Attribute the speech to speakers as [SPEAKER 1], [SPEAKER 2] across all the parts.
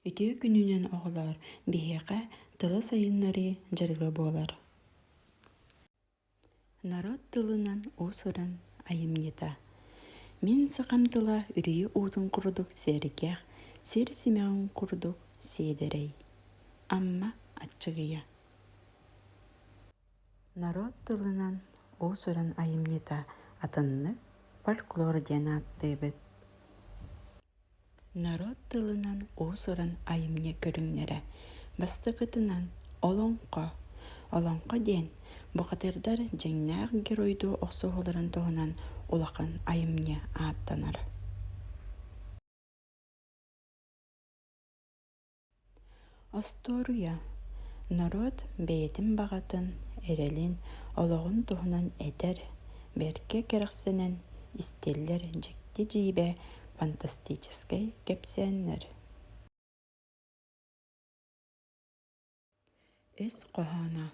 [SPEAKER 1] Үтүө күнүнэн оҕолоор! Биһиэхэ тылы сайыннарыы дьарыга буолар. Народ тылынан уус-уран айымньыта. Мин сахам тыла үрүйэ уутун курдук сэргэх, сир симэҕин курдук сиэдэрэй. Амма Аччыгыйа. Народ тылынан уус-уран айымньыта атыннык фольклор диэн ааттыыбыт. Норуот тылынан уус-уран айымньы көрүҥнэрэ бастакытынан «Олоҥхо» Олоҥхо диэн бухатыырдар дьиҥнээх геройдуу охсуһууларын туһунан улахан айымньы ааттанар Остуоруйа норуот бэйэтин баҕатын, эрэлин, олоҕун туһунан этэр, бэркэ кэрэхсэнэн истиллэр дьикти дьиибэ фантастическай кэпсээннэр. Ис хоһооно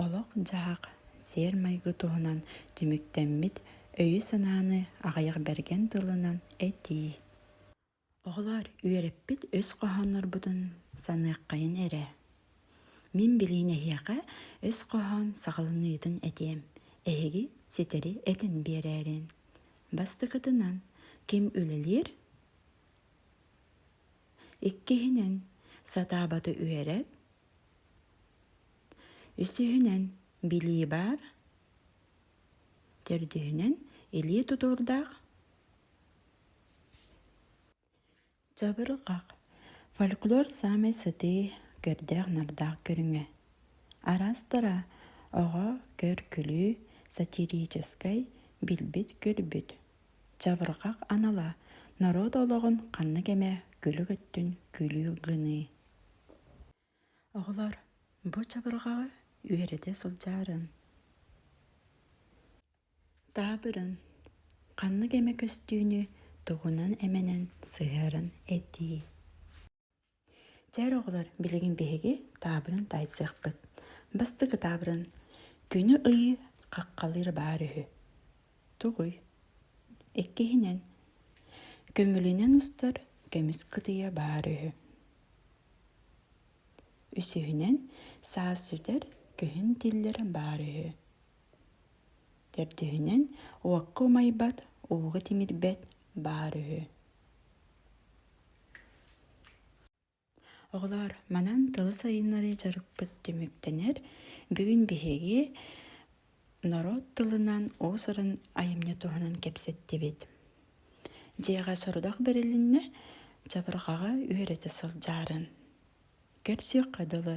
[SPEAKER 1] олох-дьаһах, сиэр-майгы туһунан түмүктэммит өйү-санааны аҕыйах бэргэн тылынан этии. Оҕолоор, үөрэппит өс хоһооннорбутун саныаххайын эрэ. Мин билиин эһиэхэ өс хоһоон саҕаланыытын этиэм. Эһиги ситэри этэн биэрээрин. Бастакытынан, ким үлэлиир? Иккиһинэн, сатаабаты үөрэр. Үсүһүнэн, билии баар. Төрдүһүнэн, илии тутуурдаах, дьабырҕах, фольклор саамай сытыы, көрдөөх-нардаах көрүҥэ. Араастара оҕо көр-күлүү, сатирическай, билбит-көрбүт. Дьабырҕах анала норуот олоҕун ханнык эмэ күлүк өттүн күлүү гыныы. Оҕолор бу чабырҕаҕы үөрэтэ сылдьарын, таабырын, ханнык эмэ көстүүнү тугунан-эмэнэн сыһыаран этии. Дьэ эр оҕолор билигин биһиги таабырын таайсыахпыт. Бастакы таабырын күнү ыйыы хаххалыыр баар үһү. Тугуй? Иккиһинэн, көмүлүнэн устар көмүс кытыйа баар үһү. Үсүһүнэн, саас сүтэр, күһүн тиллэр баар үһү. Төрдүһүнэн, уокка умайбат, ууга тимирбэт баар үһү. Оҕолоор, манан тылы сайыннарыы дьарыкпыт түмүктэнэр. Бүгүн биһиги Норуот тылынан уус-уран айымньы туһунан кэпсэттибит. Дьиэҕэ сорудах бэрилиннэ, чабырҕаҕа үөрэтэ сылдьарын. Көрсүөххэ дылы.